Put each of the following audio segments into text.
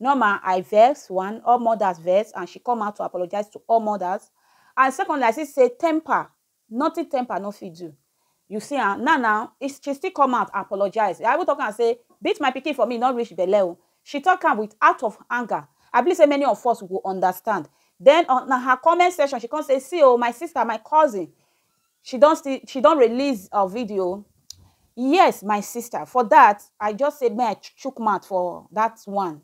Norma, I vex, one, all mothers vex and she come out to apologize to all mothers and secondly I see say temper, nothing temper no fit do. You see am, now now, she still come out apologize. I even talk am say beat my pikin for me no reach belle o. She talk am with out of anger. I believe say many of us go understand. Then on her comment section she come say see o my sister, my cousin, she don still she don release her video yes my sister for that i just say may i chook mouth for that one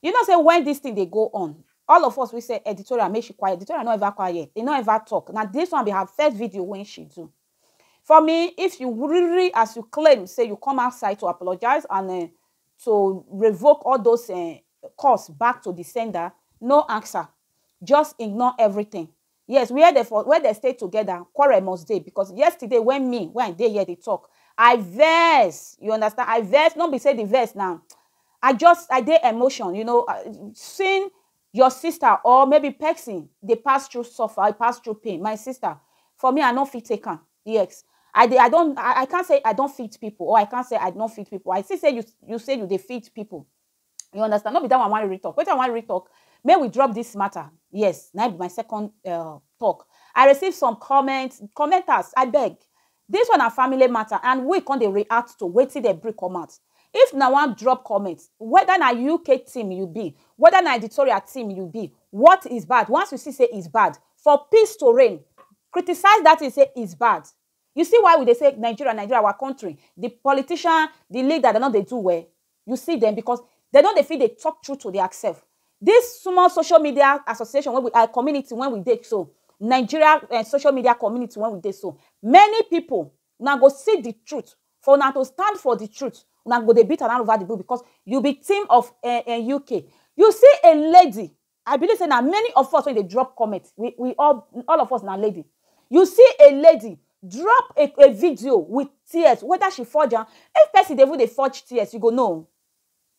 you know say when this thing dey go on all of us we say editorial make she quiet editorial no ever quiet e no ever talk na this one be her first video when she do for me if you really as you claim say you come outside to apologize and uh, to revoke all those uh, costs back to the sender no answer just ignore everything Yes where dem for where dem stay together quarrel must dey because yesterday when me when I dey here dey talk I vex you understand I vex no be say the vex na I just I dey emotion you know seeing your sister or maybe person dey pass through suffer dey pass through pain my sister for me I no fit take am yes I dey I don I can't say I don fit people or I can't say I no fit people I see say you say you dey fit people you understand no be that one i wan really talk wetin i wan really talk make we drop this matter yes na be my second uh, talk i receive some comments commenters i beg this one na family matter and we come dey react to wetin dem bring come out if na wan drop comment whether na uk team you be whether na editorial team you be what is bad once you see say is bad for peace to reign criticize that thing say is bad You see why we dey say Nigeria, Nigeria our country, the politician, the leader, they no dey do well. You see them because they no dey fit dey talk truth to their self. This small social media association when we are community when we dey so, Nigeria eh social media community when we dey so, many people una go see the truth for una to stand for the truth, una go dey beat around over the bush because you be team of eh eh UK. You see a lady I believe say na many of us wey dey drop comment, we we all all of us na lady. You see a lady drop a a video with tears whether she forge am, if person dey even dey forge tears you go know o.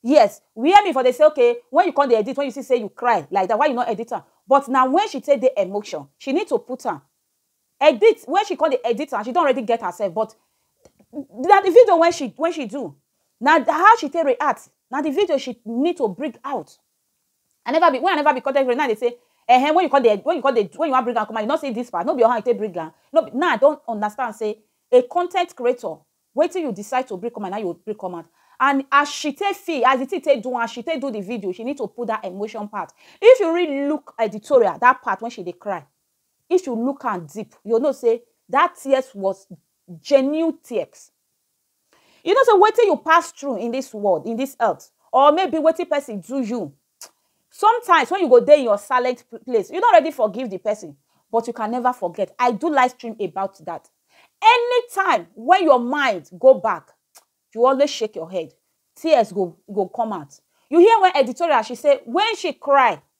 Yes, where me for dey say okay when you come dey edit, when you see say you cry like that why you no edit am? But na when she take dey emotion, she need to put am. Edit, when she come dey edit am, she don already get herself but na the video when she when she do, na how she take react, na the video she need to bring out. I never be when I never be content creator now they say eh when you come dey when you come dey when you wan bring am come out you no say this part no be your hand you take bring am no be now I don understand say a content creator wetin you decide to bring come out na you bring come out and as she take feel as the thing take do am as she take do the video she need to put that emotion part if you really look editorial that part when she dey cry if you look am deep you know say that tears was genuine tears You know say wetin you pass through in this world, in this earth, or maybe wetin person do you, sometimes when you go dey in your silent place, you don already forgive the person, but you can never forget. I do live stream about that. Anytime when your mind go back, you always shake your head, tears go go come out. You hear when editorial she say when she cry,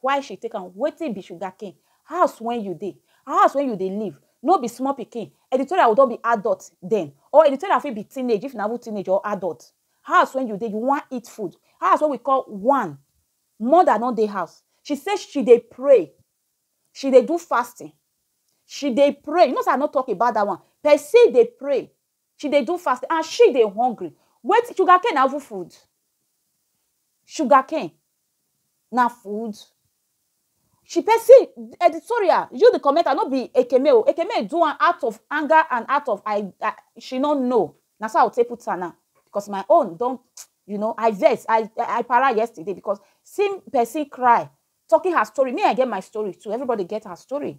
Why she take am? Wetin be sugar cane? House wen you dey? House wen you dey live? No be small pikin, editorial go don be adult den or editorial fit be teenage if na even teenage or adult. House wen you dey? You wan eat food? House wey we call one, mother no dey house. She say she dey pray, she dey do fasting, she dey pray. You know sey I no talk about dat one. Person dey pray, She dey do fasting and she dey hungry. Wetin, sugar cane na even food? Sugar cane na food? She pay, see editorial, you the commenter no be Ekeme o, Ekeme do am out of anger and out of I I she no know, na so I go take put am now because my own don you know I vex, I I para yesterday because seeing person cry, talking her story, me I get my story too, everybody get her story.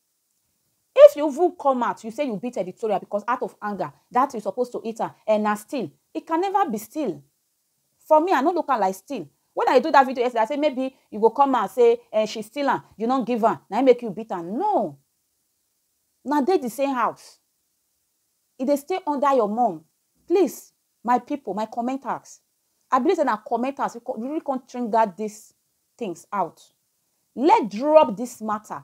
If you even come out you say you beat editorial because out of anger that you suppose to eat am eh na still it can never be still for me I no look am like still when I do that video yesterday I say maybe you go come out say eh she steal am you no give am na make you beat am no na dey the same house e dey stay under your mom please my people my commenters I believe that na commenters really come trigger these things out. Let's drop this matter.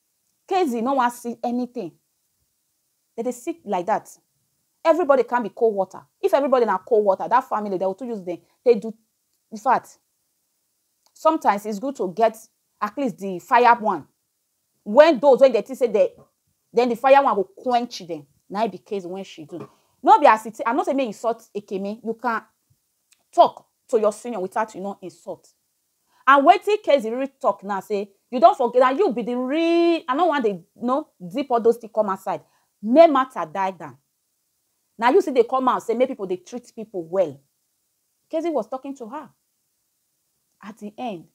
Kezi no wan see anything. Dem dey see like that. Everybody come be cold water. If everybody na cold water, that family, dem go too use dem take do In fact, sometimes it's good to get at least the fire one when those wey dem think say dem then the fire one go quench dem. Na im be Kezi when she do. No be as e take, I no say make you insult Ekene. You can talk to your senior without you no insult. And wetin Kezi really talk now say, you don forget that you be the real, I no wan dey no zip all those things come outside. May matter die down. Now you see they come out say make people they treat people well. Kezi was talking to her. At the end,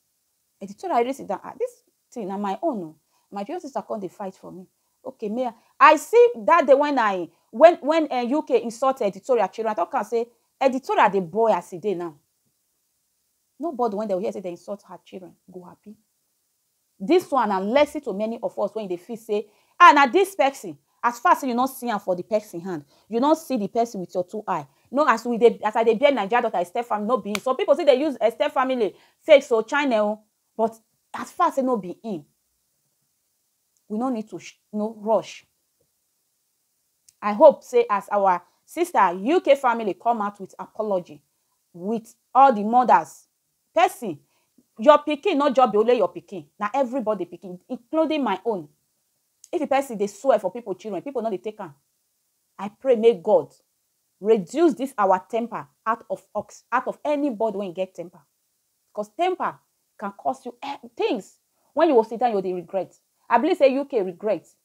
the teacher really sit down. Ah, this thing na my own. Oh. My beauty sister come they fight for me. Okay, may I, I see that day when I when when uh, eh, UK insulted editorial children, I talk and say editorial the boy as he dey now. Nobody when dem hear say dem insult her children go happy. This one na lesson to many of us when you dey feel say ah na this person as far say you no see am for the person hand you no see the person with your two eye no as we dey as I dey bear Naija daughter step family no be some people still dey use step family fake so China o but as far say no be him we no need to no rush I hope say as our sister UK family come out with apology with all the mothers person your pikin not just be only your pikin na everybody pikin including my own if the person dey swear for people children people no dey take am I pray may God reduce this our temper out of ox out of anybody when get temper because temper can cause you eh, things when you will sit down you will regret I believe say UK regret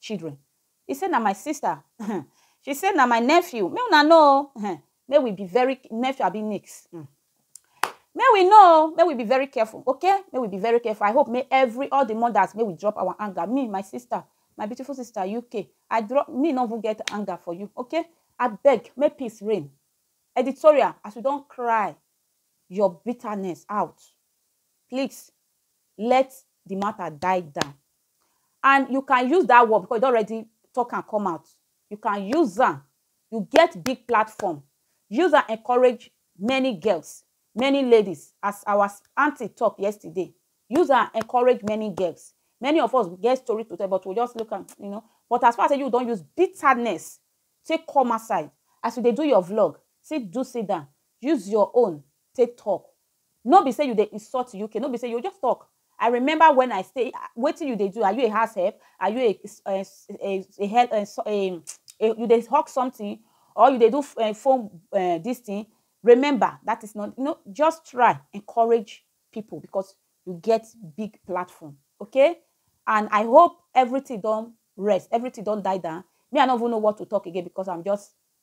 children. He say na my sister um she say na my nephew make una know o um make we be very nephew abi niece um make we know o make we be very careful okay make we be very careful I hope make every all the mothers make we drop our anger me my sister my beautiful sister UK I drop me no even get anger for you okay abeg make peace reign editorial as you don cry your bitterness out please let the matter die down and you can use that word because you don already talk am come out you can use am you get big platform use am encourage many girls many ladies as our aunty talk yesterday use am encourage many girls many of us get story to tell but we just look am you know but as far as you don use bitterness take come outside as you dey do your vlog sit do sit down use your own take talk No be say you dey insult UK, no be say you just talk. I remember when I say, ah, wetin you dey do? Are you a house help? Are you a a a, a, hel- eh, so- eh, eh, you dey hawk something or you dey do f- eh, phone eh, this thing? Remember that is not you know. Just try encourage people because you get big platform, okay? And I hope everything don rest, everything don die down. Me, I no even know what to talk again because I'm just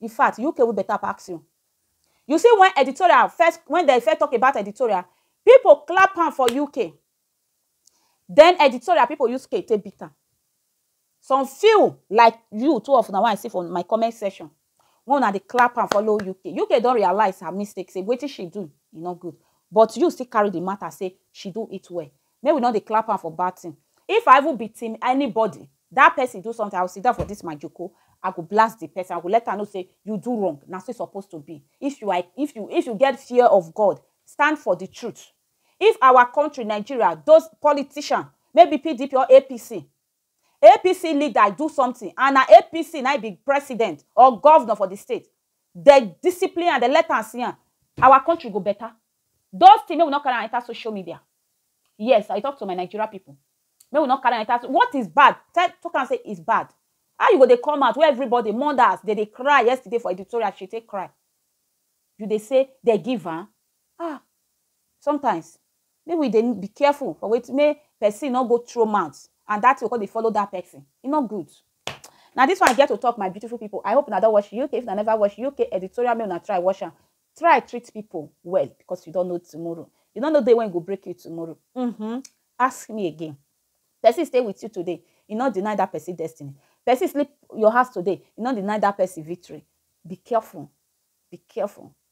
In fact, UK wey better pass you. You see when editorial first, when dem first talk about editorial, people clap hand for UK. Then editorial people use scale take beat am. Some few like you two of una wey I see for my comment section, wey una dey clap hand follow UK. UK don realize her mistake sey wetin she do e no good, but you still carry the matter sey she do it well. Make we no dey clap hand for bad thing. If I even be team anybody, that person do something, I will sit down for this my joko, I go blast the person, I go let am know say you do wrong, na so e suppose to be. If you are, if you, if you get fear of God, stand for the truth. If our country, Nigeria, those politician, maybe PDP or APC, APC leader do something and na APC na im be president or governor for the state, Dey discipline am, dey let am see am, our country go better. Those things make we no carry am enter social media. Yes, I dey talk to my Nigeria people. Make we no carry am enter, what is bad? Tell, talk am say it's bad. How you go dey come out wey everybody, mothers dem dey cry yesterday for editorial, she take cry. You dey say dey give am? Ah! Sometimes, Make we dey be careful for wetin make person no go throw mouth and that thing go come dey follow that person. E no good. Na this one I get to talk my beautiful people. I hope una don watch UK. If una never watch UK editorial, make una try watch am. Try treat people well because you don't know tomorrow. You don't know day when e go break you tomorrow. Mm-hmm. Ask me again. Person stay with you today, e no deny that person destiny. Person sleep your house today, e no deny that person victory. Be careful. Be careful.